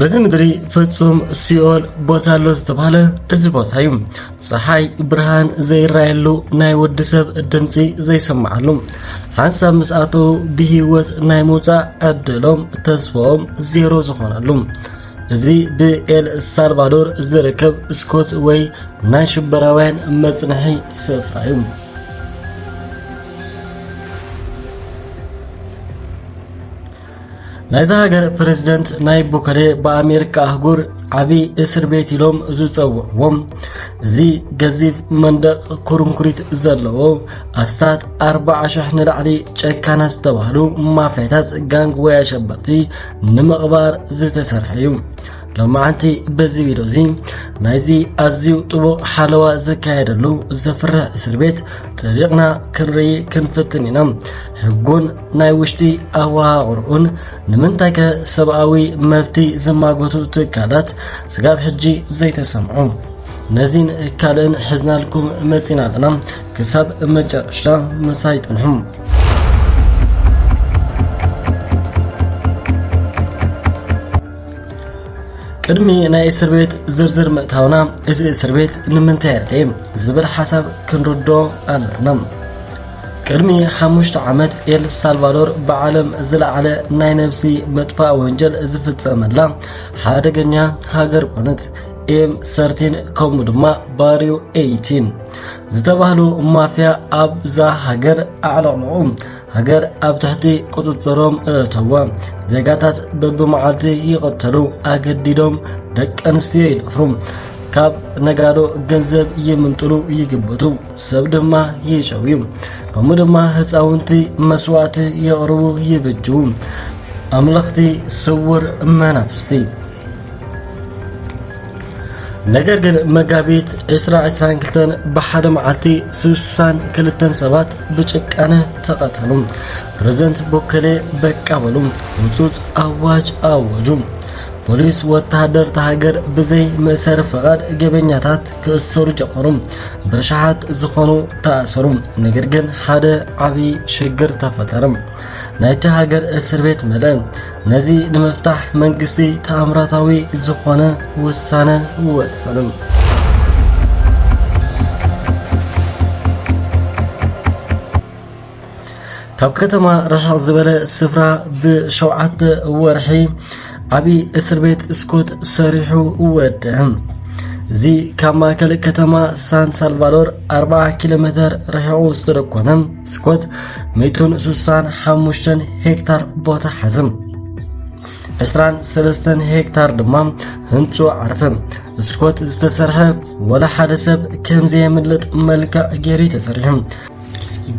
በዚ ምድሪ ፍጹም ሲኦል ቦታ ኣሎ ዝተባህለ እዚ ቦታ እዩ። ፀሓይ ብርሃን ዘይራየሉ ናይ ወዲ ሰብ ድምፂ ዘይሰማዓሉ ሓንሳብ ምስ ኣተዉ ብሂወት ናይ ምውፃእ ዕድሎም ተስፎኦም ዜሮ ዝኾነሉ እዚ ብኤል ሳልቫዶር ዝርከብ ስኮት ወይ ናይ ሽበራውያን መፅንሒ ስፍራ እዩ ናይዛ ሃገር ፕረዚደንት ናይብ ቦከለ ብኣሜሪካ ኣህጉር ዓብዪ እስር ቤት ኢሎም ዝፀውዕዎም እዚ ገዚፍ መንደቕ ኩርንኩሪት ዘለዎ ኣስታት ኣርባዓ ሽሕ ንላዕሊ ጨካና ዝተባህሉ ማፍያታት ጋንግ ወይ ኣሸበርቲ ንምቕባር ዝተሰርሐ እዩ ሎማዓንቲ በዚ ቪድዮ እዚ ናይዚ ኣዝዩ ጥቡቕ ሓለዋ ዝካየደሉ ዘፍርሕ እስር ቤት ጠቢቕና ክንርኢ ክንፍትን ኢና ሕጉን ናይ ውሽጢ ኣወሃቕርኡን ንምንታይከ ሰብኣዊ መብቲ ዝማጎቱ ትካላት ስጋብ ሕጂ ዘይተሰምዑ ነዚን ካልእን ሕዝናልኩም መጺና ኣለና ክሳብ መጨረሻ ምሳይ ጽንሑ ቅድሚ ናይ እስር ቤት ዝርዝር ምእታውና እዚ እስር ቤት ንምንታይ የድልየ ዝብል ሓሳብ ክንርዶ ኣለና ቅድሚ ሓሙሽተ ዓመት ኤል ሳልቫዶር ብዓለም ዝለዓለ ናይ ነብሲ መጥፋእ ወንጀል ዝፍጸመላ ሓደገኛ ሃገር ኮነት። ኤም ሰርቲን ከምኡ ድማ ባሪው ኤይቲን ዝተባህሉ ማፍያ ኣብዛ ሃገር ኣዕለቕለቑ ሃገር ኣብ ትሕቲ ቁፅፅሮም እእተወ ዜጋታት በብመዓልቲ ይቐተሉ ኣገዲዶም ደቂ ኣንስትዮ ይደፍሩ ካብ ነጋዶ ገንዘብ ይምንጥሉ ይግብቱ ሰብ ድማ ይጨውዩ ከምኡ ድማ ህፃውንቲ መስዋእቲ የቕርቡ ይብጅዉ ኣምለኽቲ ስውር መናፍስቲ ነገር ግን መጋቢት 2022 ብሓደ መዓልቲ 62 ሰባት ብጭካነ ተቐተሉ ፕሬዝደንት ቦከሌ በቃ በሉ ውፁፅ ኣዋጅ ኣወጁ ፖሊስ ወተሃደር ሃገር ብዘይ መእሰሪ ፈቓድ ገበኛታት ክእሰሩ ጀመሩ። በሽሓት ዝኾኑ ተኣሰሩ። ነገር ግን ሓደ ዓብዪ ሽግር ተፈጠረ። ናይቲ ሃገር እስር ቤት መለአ። ነዚ ንምፍታሕ መንግስቲ ተኣምራታዊ ዝኾነ ውሳነ ወሰኑ። ካብ ከተማ ርሕቕ ዝበለ ስፍራ ብሸውዓተ ወርሒ ዓብዪ እስር ቤት ስኮት ሰሪሑ ወደሀ። እዚ ካብ ማእከል ከተማ ሳን ሳልቫዶር 40 ኪሎ ሜተር ርሒቑ ዝተደኮነ ስኮት 165 ሄክታር ቦታ ሓዘ። 23 ሄክታር ድማ ህንፁ ዓርፈ። ስኮት ዝተሰርሐ ወላ ሓደ ሰብ ከምዘየምልጥ መልክዕ ገይሩ ተሰሪሑ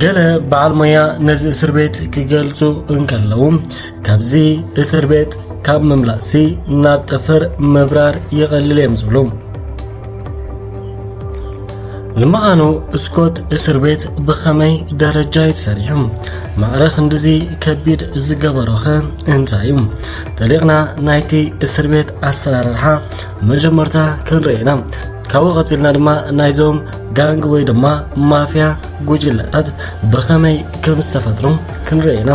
ገለ በዓል ሞያ ነዚ እስር ቤት ክገልጹ እንከለዉ ካብዚ እስር ቤት ካብ ምምላሲ ናብ ጠፈር ምብራር ይቐልል እዮም ዝብሉ ንምዃኑ ስኮት እስር ቤት ብኸመይ ደረጃ እዩ ተሰሪሑ ማዕረ ክንድዚ ከቢድ ዝገበሮኸ እንታይ እዩ ጠሊቕና ናይቲ እስር ቤት ኣሰራርሓ መጀመርታ ክንርኢና ካብኡ ቀፂልና ድማ ናይዞም ጋንግ ወይ ድማ ማፍያ ጉጅለታት ብኸመይ ከም ዝተፈጥሩ ክንርኢ ኢና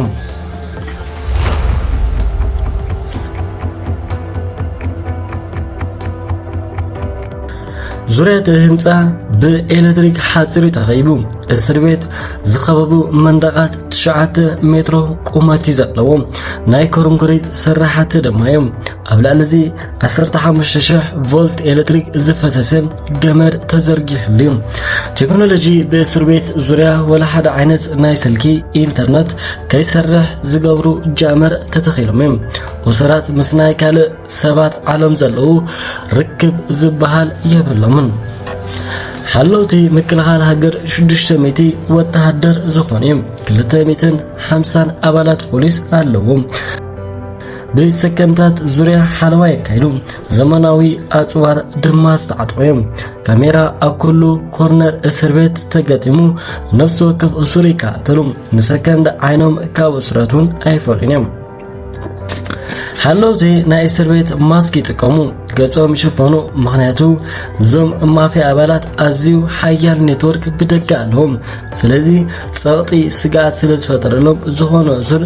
ዙሪያ እቲ ህንፃ ብኤሌክትሪክ ሓፂር እዩ ተኸይቡ እስር ቤት ዝኸበቡ መንደቓት ትሽዓተ ሜትሮ ቁመት እዩ ዘለዎ ናይ ኮርንኮሪት ስራሕቲ ድማ እዮም ኣብ ልዕሊ እዚ 15000 ቮልት ኤሌክትሪክ ዝፈሰሰ ገመድ ተዘርጊሕሉ እዩ ቴክኖሎጂ ብእስር ቤት ዙሪያ ወላ ሓደ ዓይነት ናይ ስልኪ ኢንተርነት ከይሰርሕ ዝገብሩ ጃመር ተተኺሎም እዮም ወሰራት ምስ ናይ ካልእ ሰባት ዓለም ዘለዉ ርክብ ዝበሃል የብሎምን ሓለውቲ ምክልኻል ሃገር 600 ወተሃደር ዝኾኑ እዮም 250 ኣባላት ፖሊስ ኣለዎም ብሰከንድታት ዙርያ ሓለዋ የካይዱ፣ ዘመናዊ ኣጽዋር ድማ ዝተዓጥቑ እዮም። ካሜራ ኣብ ኩሉ ኮርነር እስር ቤት ተገጢሙ፣ ነፍሲ ወከፍ እሱር ይከታተሉ፣ ንሰከንድ ዓይኖም ካብ እሱረት እውን ኣይፈልዩን እዮም። ሓለውቲ ናይ እስር ቤት ማስክ ይጥቀሙ፣ ገጾም ይሽፈኑ፣ ምክንያቱ እዞም ማፍያ ኣባላት ኣዝዩ ሓያል ኔትወርክ ብደገ ኣለዎም። ስለዚ ጸቕጢ ስግኣት ስለ ዝፈጠረሎም ዝኾነ እሱር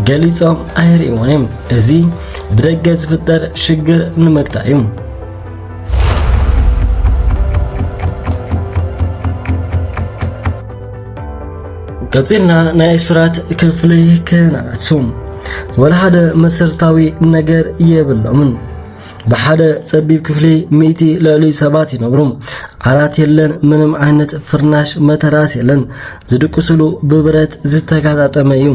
ገሊጾም ኣይርእዎን እዮም እዚ ብደገ ዝፍጠር ሽግር ንምግታእ እዩ ቀጺልና ናይ እስራት ክፍሊ ክነኣቱ ወላ ሓደ መሰረታዊ ነገር የብሎምን ብሓደ ጸቢብ ክፍሊ ሚእቲ ልዕሊ ሰባት ይነብሩ። ዓራት የለን፣ ምንም ዓይነት ፍርናሽ መተራስ የለን። ዝድቅስሉ ብብረት ዝተጋጣጠመ እዩ።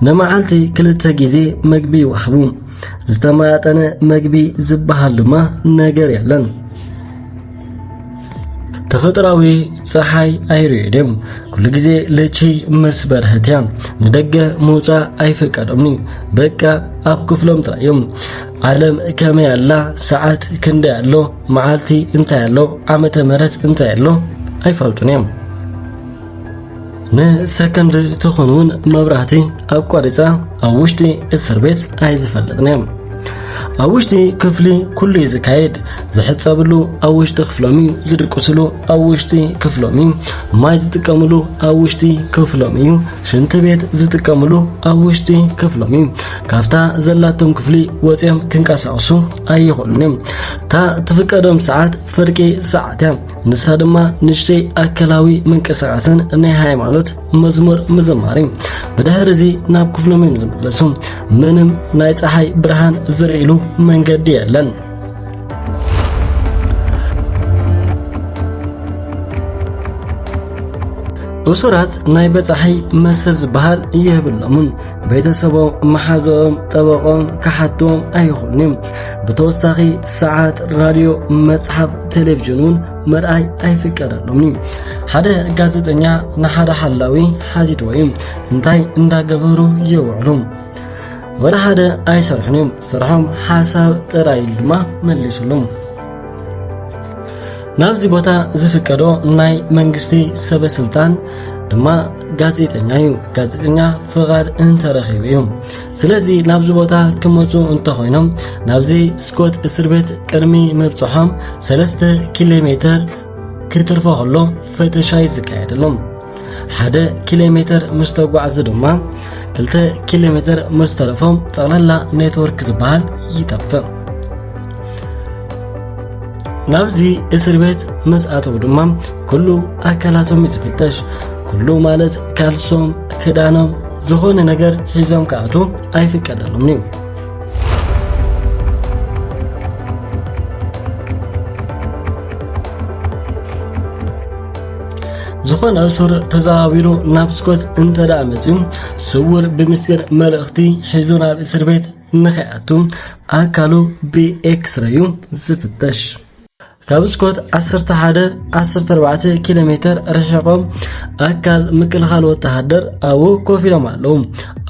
ንመዓልቲ ክልተ ግዜ መግቢ ይወሃቡ። ዝተመጣጠነ መግቢ ዝበሃል ድማ ነገር የለን። ተፈጥራዊ ፀሓይ ኣይርድም ኩሉ ግዜ ለቺ ምስ በርሀት እያ ንደገ ምውፃእ ኣይፈቀዶምኒ በቃ ኣብ ክፍሎም ጥራይ እዮም ዓለም ከመይ ኣላ ሰዓት ክንደይ ኣሎ መዓልቲ እንታይ ኣሎ ዓመተ ምህረት እንታይ ኣሎ ኣይፈልጡን እዮም ንሰከንድ ትኹን እውን መብራህቲ ኣቋሪፃ ኣብ ውሽጢ እስር ቤት ኣይዝፈልጥን እዮም ኣብ ውሽጢ ክፍሊ ኩሉ እዩ ዝካየድ ዝሕፀብሉ ኣብ ውሽጢ ክፍሎም እዩ ዝድቅስሉ ኣብ ውሽጢ ክፍሎም እዩ ማይ ዝጥቀምሉ ኣብ ውሽጢ ክፍሎም እዩ ሽንቲ ቤት ዝጥቀምሉ ኣብ ውሽጢ ክፍሎም እዩ ካብታ ዘላቶም ክፍሊ ወፂኦም ክንቀሳቀሱ ኣይኽእሉን እዮም እታ ትፍቀዶም ሰዓት ፍርቂ ሰዓት እያ ንሳ ድማ ንሽተይ ኣከላዊ ምንቅስቃስን ናይ ሃይማኖት መዝሙር ምዝማሪ ብድሕር እዚ ናብ ክፍሎም እዮም ዝምለሱ ምንም ናይ ፀሓይ ብርሃን ዝርእሉ መንገዲ የለን እሱራት ናይ በፃሒ መስር ዝበሃል የብሎምን ቤተሰቦም መሓዘኦም ጠበቆም ክሓትዎም ኣይኹልንዮም ብተወሳኺ ሰዓት ራድዮ መጽሓፍ ቴሌቭዥን እውን ምርኣይ ኣይፍቀደሎምኒ ሓደ ጋዜጠኛ ንሓደ ሓላዊ ሓቲትዎ እዩ እንታይ እንዳገበሩ የውዕሉ ወላ ሓደ ኣይሰርሑን እዮም ስርሖም ሓሳብ ጥራይ ኢሉ ድማ መሊሱሉ ናብዚ ቦታ ዝፍቀዶ ናይ መንግስቲ ሰበ ስልጣን ድማ ጋዜጠኛ እዩ ጋዜጠኛ ፍቓድ እንተረኺቡ እዩ ስለዚ ናብዚ ቦታ ክመፁ እንተኾይኖም ናብዚ ስኮት እስር ቤት ቅድሚ ምብፅሖም 3 ኪሎ ሜተር ክትርፎ ከሎ ፈተሻ ይዝካየደሎም ሓደ ኪሎ ሜተር ምስ ተጓዕዙ ድማ ክልተ ኪሎ ሜተር ምስ ተረፎም ጠቕላላ ኔትወርክ ዝበሃል ይጠፍእ ናብዚ እስር ቤት ምስ ኣተው ድማ ኩሉ ኣካላቶም እዩ ዝፍተሽ ኩሉ ማለት ካልሶም ክዳኖም ዝኾነ ነገር ሒዞም ክኣቱ ኣይፍቀደሎምን እዩ ዝኾነ እሱር ተዘዋዊሩ ናብ ስኮት እንተ ደኣ መፅዩ ስውር ብምስጢር መልእኽቲ ሒዙ ናብ እስር ቤት ምኽያቱ ኣካሉ ብኤክስረዩ ዝፍተሽ። ካብ ስኮት ዓሰርተ ሓደ ዓሰርተ ኣርባዕተ ኪሎ ሜተር ርሒቖም ኣካል ምክልኻል ወተሃደር ኣብኡ ኮፍ ኢሎም ኣለዉ።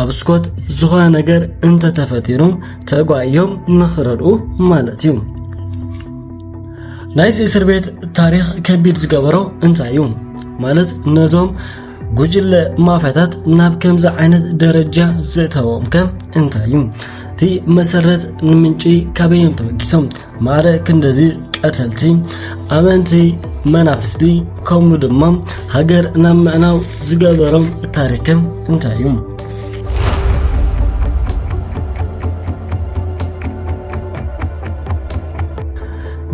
ኣብ ስኮት ዝኾነ ነገር እንተተፈጢሩ ተጓዮም ንኽረድኡ ማለት እዩ። ናይዚ እስር ቤት ታሪኽ ከቢድ ዝገበሮ እንታይ እዩ ማለት ነዞም ጉጅለ ማፍያታት ናብ ከምዚ ዓይነት ደረጃ ዘእተዎም ከ እንታይ እዩ እቲ መሰረት ንምንጪ ካበዮም ተበጊሶም ማረ ክንደዚ ቀተልቲ ኣመንቲ መናፍስቲ ከምኡ ድማ ሃገር ናብ ምዕናው ዝገበሮም ታሪክም እንታይ እዩ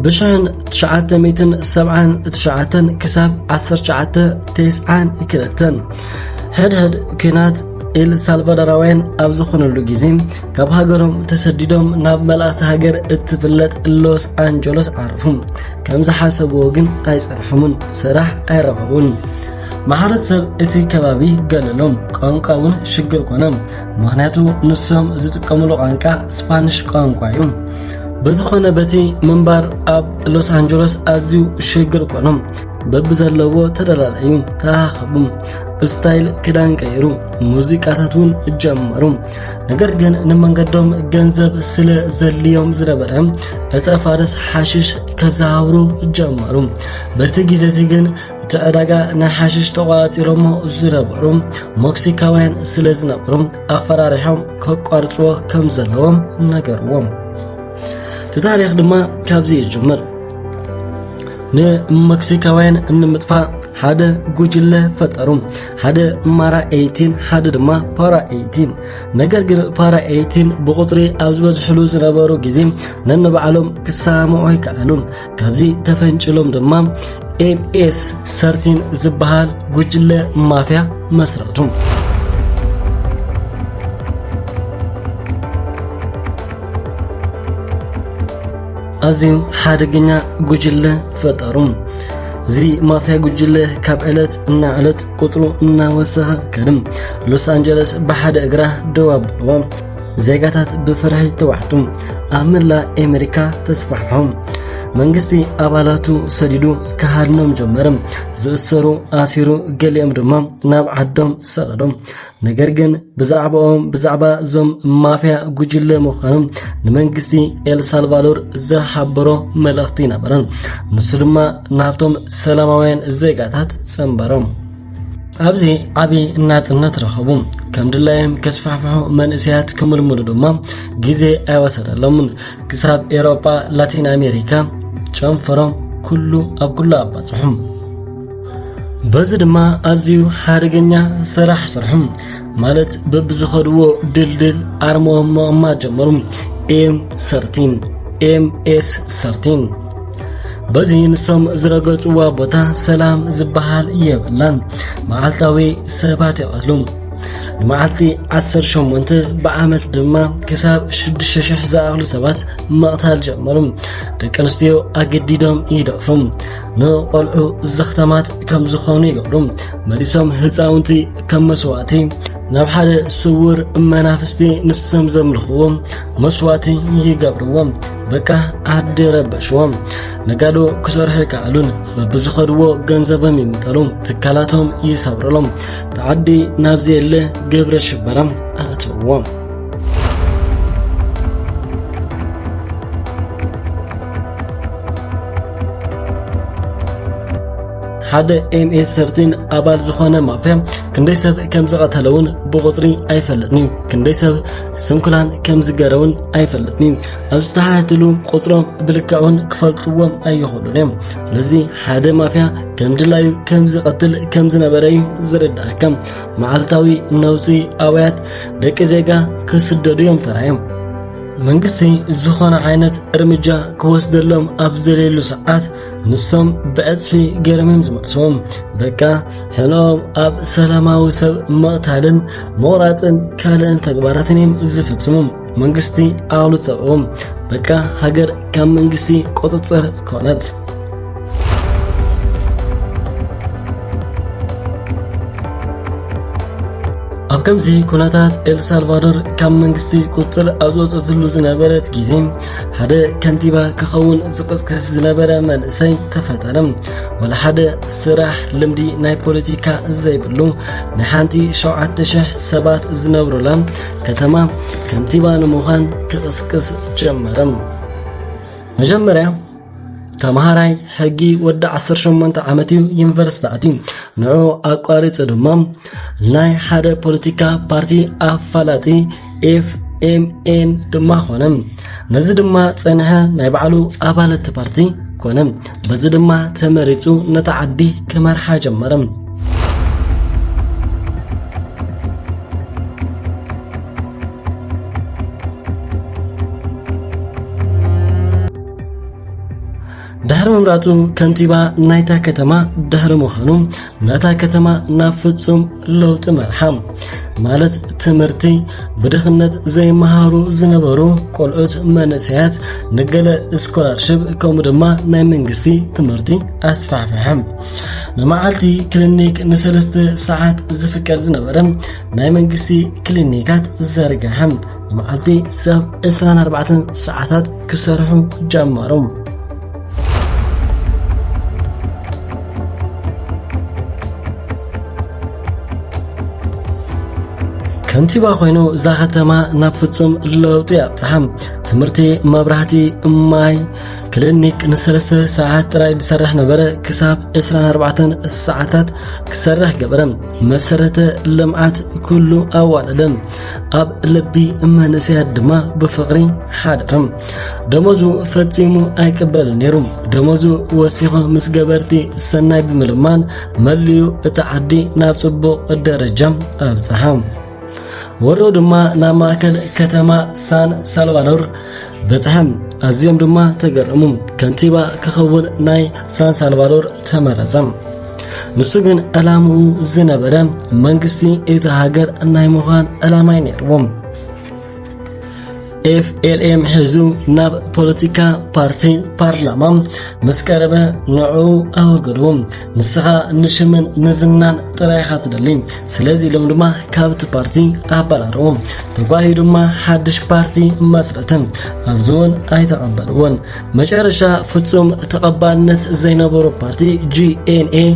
ብሽሕን ትሽዓተ ሚትን ሰብዓን ትሽዓተን ክሳብ ዓሰርተ ትሽዓተ ትስዓን ክልተን ሕድሕድ ኩናት ኤል ሳልቫዶራውያን ኣብ ዝኾነሉ ግዜ ካብ ሃገሮም ተሰዲዶም ናብ መልእቲ ሃገር እትፍለጥ ሎስ ኣንጀሎስ ዓረፉ ከም ዝሓሰብዎ ግን ኣይጸንሖምን ስራሕ ኣይረኸቡን ማሕረት ሰብ እቲ ከባቢ ገለሎም ቋንቋ እውን ሽግር ኮነ ምክንያቱ ንሶም ዝጥቀምሉ ቋንቋ ስፓኒሽ ቋንቋ እዩ በዝኾነ በቲ ምንባር ኣብ ሎስ ኣንጀሎስ ኣዝዩ ሽግር ኮኖም በብዘለዎ ተደላለዩ ተራኸቡ ብስታይል ክዳን ቀይሩ ሙዚቃታት እውን ጀመሩ ነገር ግን ንመንገዶም ገንዘብ ስለ ዘድልዮም ዝነበረ ዕፀ ፋርስ ሓሽሽ ከዘሃውሩ ጀመሩ በቲ ግዜ እቲ ግን እቲ ዕዳጋ ናይ ሓሽሽ ተቋፂሮሞ ዝነበሩ ሞክሲካውያን ስለ ዝነበሩ ኣፈራሪሖም ከቋርፅዎ ከም ዘለዎም ነገርዎም እቲ ታሪኽ ድማ ካብዚ እዩ ዝጅምር ንመክሲካውያን ንምጥፋእ ሓደ ጉጅለ ፈጠሩ ሓደ ማራ ኤይቲን ሓደ ድማ ፓራ ኤይቲን ነገር ግን ፓራ ኤይቲን ብቁፅሪ ኣብ ዝበዝሕሉ ዝነበሩ ግዜ ነንባዕሎም ክሰማምዑ ኣይከኣሉን ካብዚ ተፈንጭሎም ድማ ኤምኤስ ሰርቲን ዝበሃል ጉጅለ ማፍያ መስረቱ። ኣዝዩ ሓደገኛ ጉጅለ ፈጠሩ። እዚ ማፍያ ጉጅለ ካብ ዕለት እና ዕለት ቁፅሩ እናወሰኸ ከድም ሎስ ኣንጀለስ ብሓደ እግራ ደው ኣብልዎ ዜጋታት ብፍርሒ ተዋሕጡ ኣብ መላእ ኣሜሪካ ተስፋሕፍሖም መንግስቲ ኣባላቱ ሰዲዱ ክሃድኖም ጀመረ። ዝእሰሩ ኣሲሩ፣ ገሊኦም ድማ ናብ ዓዶም ሰቐዶም። ነገር ግን ብዛዕባኦም ብዛዕባ እዞም ማፍያ ጉጅለ ምዃኖም ንመንግስቲ ኤልሳልቫዶር ዝሓበሮ መልእኽቲ ነበረን። ንሱ ድማ ናብቶም ሰላማውያን ዜጋታት ጸንበሮም። ኣብዚ ዓብዪ ናጽነት ረኸቡ ከም ድላዮም ከስፋሕፍሑ መንእሰያት ክምልምሉ ድማ ግዜ ኣይወሰደሎምን ክሳብ ኤሮጳ ላቲን ኣሜሪካ ጨንፈሮም ኩሉ ኣብ ኩሉ ኣባጽሑም በዚ ድማ ኣዝዩ ሓደገኛ ስራሕ ስርሑ ማለት በብዝኸድዎ ድልድል ኣርሞም ምቕማጥ ጀመሩ። ኤም ሰርቲን ኤም ኤስ ሰርቲን በዚ ንሶም ዝረገጽዋ ቦታ ሰላም ዝበሃል የብላን። መዓልታዊ ሰባት ይቐትሉ። ንመዓልቲ 18 ብዓመት ድማ ክሳብ 6,000 ዝኣኽሉ ሰባት መቕታል ጀመሩ። ደቂ ኣንስትዮ ኣገዲዶም ይደፍሩ፣ ንቖልዑ ዘኽተማት ከም ዝኾኑ ይገብሩ። መሊሶም ህፃውንቲ ከም መስዋእቲ ናብ ሓደ ስውር መናፍስቲ ንሶም ዘምልኽዎም መስዋእቲ ይገብርዎም በቃ ዓዲ ረበሽዎም ነጋዶ ክሰርሑ ይከኣሉን በብዝኸድዎ ገንዘቦም ይምጠሉ ትካላቶም ይሰብርሎም ተዓዲ ናብ ዘየለ ግብረ ሽበራ ኣእትዎም ሓደ ኤምኤስ ሰርቲን ኣባል ዝኾነ ማፍያ ክንደይ ሰብ ከም ዝቐተለ እውን ብቑፅሪ ኣይፈልጥን እዩ ክንደይ ሰብ ስንኩላን ከም ዝገረ እውን ኣይፈልጥን እዩ ኣብ ዝተሓትሉ ቁፅሮም ብልክዑን ክፈልጥዎም ኣይኽእሉን እዮም ስለዚ ሓደ ማፍያ ከም ድላዩ ከም ዝቐትል ከም ዝነበረ እዩ ዝርዳእካ መዓልታዊ ነውፂ ኣውያት ደቂ ዜጋ ክስደዱ እዮም ተራዮም መንግስቲ ዝኾነ ዓይነት እርምጃ ክወስደሎም ኣብ ዘልየሉ ሰዓት ንሶም ብዕጽፊ ገረምም ዝመልስዎም በቃ ሕኖም ኣብ ሰላማዊ ሰብ መቕታልን መቑራፅን ካልእን ተግባራትን እዮም ዝፍጽሙ። መንግስቲ ኣሉ ጸብኦም በቃ ሃገር ካብ መንግስቲ ቁፅፅር ኮነት። ኣብ ከምዚ ኩነታት ኤልሳልቫዶር ካብ መንግስቲ ቁፅር ኣብ ዝወፀትሉ ዝነበረት ግዜ ሓደ ከንቲባ ክኸውን ዝቕስቅስ ዝነበረ መንእሰይ ተፈጠረ ወላ ሓደ ስራሕ ልምዲ ናይ ፖለቲካ ዘይብሉ ናይ ሓንቲ 7000 ሰባት ዝነብሩላ ከተማ ከንቲባ ንምዃን ክቕስቅስ ጀመረ መጀመርያ ተምሃራይ ሕጊ ወዲ 18 ዓመት እዩ ዩኒቨርሲቲ ኣትዩ ንዑ ኣቋሪፁ ድማ ናይ ሓደ ፖለቲካ ፓርቲ ኣፋላጢ ኤፍ ኤምኤን ድማ ኾነ ነዚ ድማ ፀንሐ ናይ ባዕሉ ኣባለት ፓርቲ ኮነ በዚ ድማ ተመሪፁ ነታ ዓዲ ክመርሓ ጀመረ ድሕሪ ምምራጹ ከንቲባ ናይታ ከተማ ድሕሪ ምዃኑ ነታ ከተማ ናብ ፍጹም ለውጢ መርሓ ማለት ትምህርቲ ብድኽነት ዘይመሃሩ ዝነበሩ ቆልዑት መንእሰያት ንገለ ስኮላርሽፕ ከምኡ ድማ ናይ መንግስቲ ትምህርቲ ኣስፋሕፍሐ ንመዓልቲ ክሊኒክ ንሰለስተ ሰዓት ዝፍቀድ ዝነበረ ናይ መንግስቲ ክሊኒካት ዘርግሐ መዓልቲ ሰብ ዕስራን ኣርባዕተን ሰዓታት ክሰርሑ ጀመሩ። ከንቲባ ኮይኑ እዛ ከተማ ናብ ፍጹም ለውጢ ኣብጽሓ ትምህርቲ መብራህቲ ማይ ክሊኒክ ንሰለስተ ሰዓት ጥራይ ዝሰርሕ ነበረ ክሳብ 24 ሰዓታት ክሰርሕ ገበረ መሰረተ ልምዓት ኩሉ ኣዋደደ ኣብ ልቢ መንእሰያት ድማ ብፍቕሪ ሓደረ ደሞዙ ፈጺሙ ኣይቅበልን ነይሩ ደሞዙ ወሲኾ ምስ ገበርቲ ሰናይ ብምልማን መሊኡ እቲ ዓዲ ናብ ጽቡቕ ደረጃ ኣብጽሓ ወሮ ድማ ናብ ማእከል ከተማ ሳን ሳልቫዶር በጽሐም ኣዝዮም ድማ ተገረሙ። ከንቲባ ክኸውን ናይ ሳን ሳልቫዶር ተመረጸ። ንሱ ግን ዕላምኡ ዝነበረ መንግስቲ እቲ ሃገር ናይ ምዃን ዕላማይ ነይርዎ። ኤፍኤልኤም ሒዙ ናብ ፖለቲካ ፓርቲ ፓርላማ ምስ ቀረበ ንዕኡ ኣወገድዎ። ንስኻ ንሽምን ንዝናን ጥራይ ኢኻ ትደሊ ስለዚ ኢሎም ድማ ካብቲ ፓርቲ ኣባራርዎ ተጓሂ ድማ ሓድሽ ፓርቲ መስረትን ኣብዚ እውን ኣይተቐበልዎን መጨረሻ ፍጹም ተቐባልነት ዘይነበሮ ፓርቲ ጂኤንኤ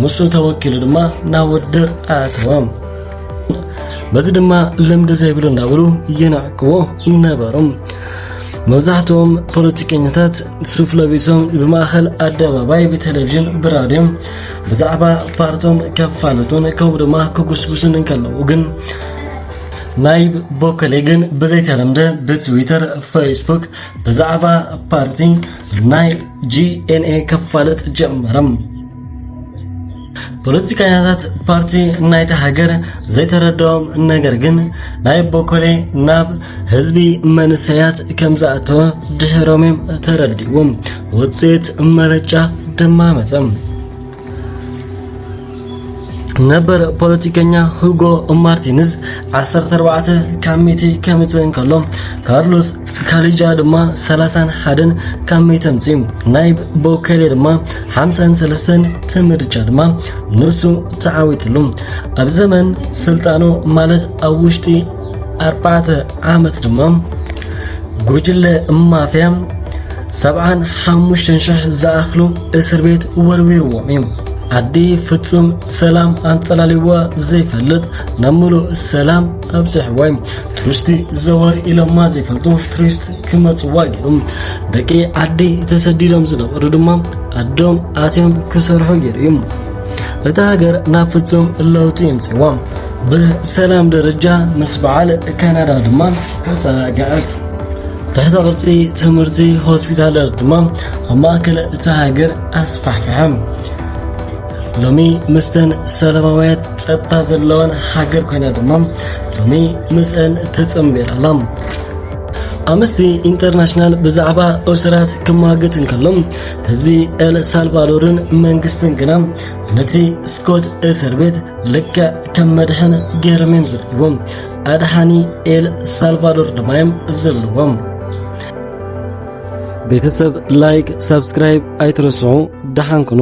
ንሱ ተወኪሉ ድማ ናብ ውድድር ኣእተዎም በዚ ድማ ልምዲ ዘይብሉ እናብሉ ይንዕቅዎ ነበሮም መብዛሕትኦም ፖለቲከኛታት ሱፍ ለቢሶም ብማእኸል ኣደባባይ ብቴሌቭዥን ብራድዮም ብዛዕባ ፓርቶም ከፋልጡን ከምኡ ድማ ክጉስጉሱን እንከለዉ ግን ናይ ቦከሌ ግን ብዘይተለምደ ብትዊተር ፌስቡክ ብዛዕባ ፓርቲ ናይ ጂኤንኤ ከፋልጥ ጀመረም ፖለቲከኛታት ፓርቲ ናይቲ ሃገር ዘይተረድኦም ነገር ግን ናይ ቦኮሌ ናብ ህዝቢ መንሰያት ከም ዝኣተወ ድሕሮም እዮም ተረዲዎም ውፅኢት መረጫ ድማ መፀም ነበር ፖለቲከኛ ሁጎ ማርቲንዝ 14 ካብ ሚቲ ከምፅእ እንከሎ ካርሎስ ካሊጃ ድማ ሰላሳን ሓደን ካብ መይተም ጽም ናይብ ቦከሌ ድማ ሓምሳን ሰለስተን ትምርጫ ድማ ንሱ ተዓዊትሉ ኣብ ዘመን ስልጣኑ ማለት ኣብ ውሽጢ ኣርባዕተ ዓመት ድማ ጉጅለ ማፍያ ሰብዓን ሓሙሽተን ሽሕ ዝኣኽሉ እስር ቤት ወርዊርዎም እዩ ዓዲ ፍጹም ሰላም ኣንጠላልዋ ዘይፈልጥ ናብ ምሉእ ሰላም ኣብዝሕ ወይ ቱሪስቲ ዘወር ኢሎማ ዘይፈልጡ ቱሪስት ክመፅዋ ገይሮም ደቂ ዓዲ ተሰዲዶም ዝነበሩ ድማ ኣዶም ኣትዮም ክሰርሑ ገይሩ እዩ እታ ሃገር ናብ ፍጹም ለውጢ የምፅዋ ብሰላም ደረጃ ምስ በዓል ካናዳ ድማ ተፀጋዐት ትሕተ ቅርፂ ትምህርቲ ሆስፒታላት ድማ ኣብ ማእከል እታ ሃገር ኣስፋሕፍሐም ሎሚ ምስተን ሰላማውያት ጸጥታ ዘለወን ሃገር ኮይና ድማ ሎሚ ምስአን ተጸንቢራ ኣላ ኣምስቲ ኢንተርናሽናል ብዛዕባ እስራት ክማግት እንከሎ ህዝቢ ኤል ሳልቫዶርን መንግስትን ግና ነቲ ስኮት እስር ቤት ልክዕ ከም መድሕን ገይሮም እዮም ዝርእይዎም ኣድሓኒ ኤል ሳልቫዶር ድማ እዮም ዘለዎም ቤተሰብ ላይክ፣ ሳብስክራይብ ኣይትረስዑ። ደሓን ኩኑ።